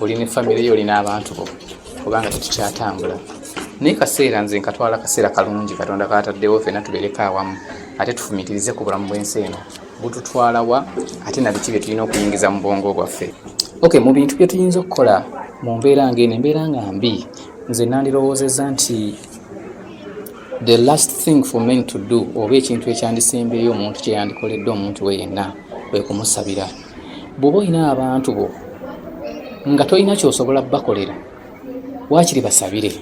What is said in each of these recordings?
oli ne famire yo olina abantu bo kubanga tetukyatambula naye kaseera nze nkatwala kaseera kalungi katonda kataddewo fena tubereko awamu ate tufumitirize ku bulamu bwensi eno bututwalawa ate nabiki bye tulina okuyingiza mu bwongo bwaffe ok mu bintu bye tuyinza okukola mu mbeera ngaeno embeera nga mbi nze nandirowoozeza nti the last thing for men to do oba ekintu ekyandisembeeyo omuntu kyeyandikoledde omuntu we yenna kwe kumusabira bw'oba olina abantu bo nga tolina kyosobola bakolera waakiri basabire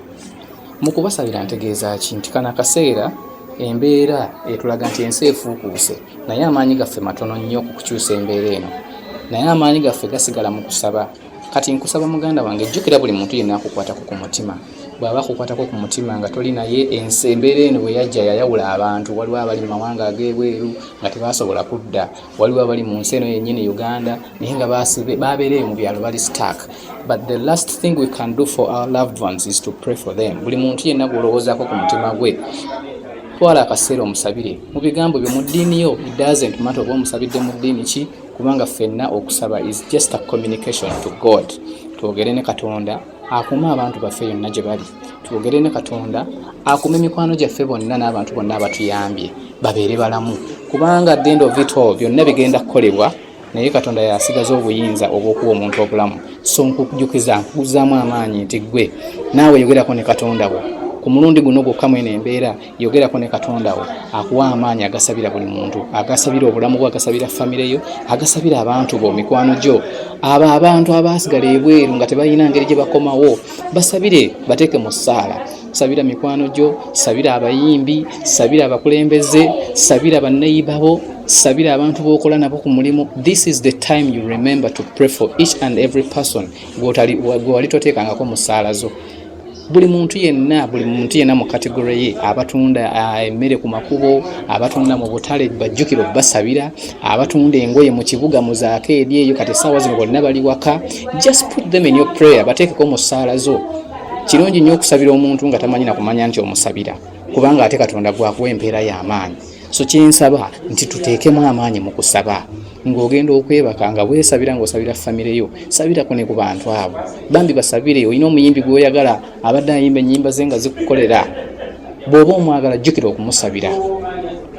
mu kubasabira ntegeeza ki nti kano akaseera embeera etulaga nti ensi efuukuuse naye amaanyi gaffe matono nnyo ku kukyusa embeera eno naye amaanyi gaffe gasigala mu kusaba kati nkusaba muganda wange jjukira buli muntu yenna akukwatako ku mutima bw'aba akukwatako ku mutima nga toli naye ensi embeera eno bwe yajja yayawula abantu waliwo abali mu mawanga ag'ebweru nga tebasobola kudda waliwo abali mu nsi eno yennyini uganda naye nga babeereyo mu byalo bali stark but the last thing we can do for our loved ones is to pray for them buli muntu yenna gwolowoozaako ku mutima gwe twala akaseera omusabire mu bigambo byo mu ddiini yo it doesn't matter oba omusabidde mu ddiini ki kubanga ffenna okusaba is just a communication to god twogere ne katonda akuume abantu baffe yonna gye bali twogere ne katonda akuume mikwano gyaffe bonna n'abantu bonna abatuyambye babeere balamu kubanga the end of it all byonna bigenda kukolebwa naye katonda yasigaza obuyinza obwokuwa omuntu obulamu so nkujukiza nkuguzaamu amaanyi nti ggwe naawe yogerako ne katonda wo ku mulundi guno gwokka mweno embeera yogerako ne katonda wo akuwa amaanyi agasabira buli muntu agasabira obulamu bwo agasabira famire yo agasabira abantu bo mikwano gyo abo abantu abaasigala ebweru nga tebalina ngeri gye bakomawo basabire bateeke mu ssaala sabira mikwano gyo sabira abayimbi sabira abakulembeze sabira banneyiba bo sabira abantu bokola nabo ku mulimu this is the time you remember to pray for each and every person gwewali toteekangako mu ssaala zo buli muntu yenna buli muntu yenna mu kategore ye abatunda ah, emmere ku makubo abatunda mu butale bajjukiro basabira abatunda engoye mu kibuga mu zaako eri eyo kati essaawa zino bonna bali waka just put them in your prayer bateekeko mu ssaala zo kirungi nnyo okusabira omuntu nga tamanyi nakumanya nti omusabira kubanga ate katonda gwakuwa empeera y'amaanyi so kyensaba nti tuteekemu amaanyi mu kusaba ng'ogenda okwebaka nga weesabira ng'osabira famire yo sabirako ne ku bantu abo bambi basabire olina omuyimbi gw'oyagala abadde ayimba ennyimba ze nga zikukolera bw'oba omwagala jjukira okumusabira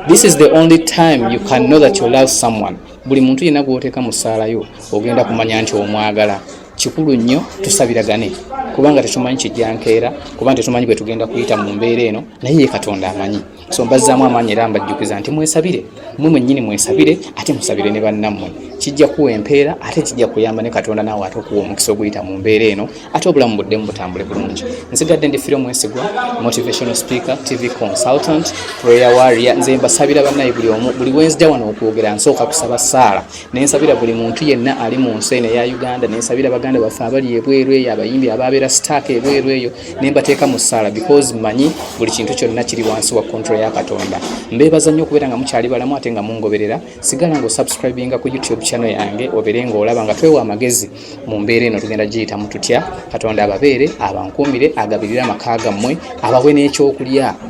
this is the only time you can know that you love someone buli muntu yenna gw'oteeka mu ssaala yo ogenda kumanya nti omwagala kikulu nnyo tusabiragane kubanga tetumanyi kijjankeera kubanga tetumanyi bwe tugenda kuyita mu mbeera eno naye ye katonda amanyi so mbazzaamu amaanyi era mbajjukiza nti mwesabire mwe mwennyini mwesabire ate musabire ne bannammwe kijja kuwa empeera ate kijja kuyamba ne katonda naawe ate okuwa omukisa oguyita mu mbeera eno ate obulamu buddemu butambule bulungi nsigadde ndi fira omwesigwa motivational speaker tv consultant prayer warrior nze mbasabira bannaye buli omu buli wenzija wano okwogera nsooka kusaba saala nensabira buli muntu yenna ali mu nsi eno eya uganda nensabira baganda baffe abali ebweru eyo abayimbi ababeera sitaaka ebweru eyo nembateeka mu ssaala because manyi buli kintu kyonna kiri wansi wa kontrol ya katonda mbeebaza nnyo okubeera nga mukyali balamu ate nga mungoberera sigala nga osubscribinga ku youtube channel yange obeere ngaolaba nga twewa amagezi mu mbeera eno tugenda giyitamu tutya katonda ababeere abankuumire agabirire amaka gammwe abawe n'ekyokulya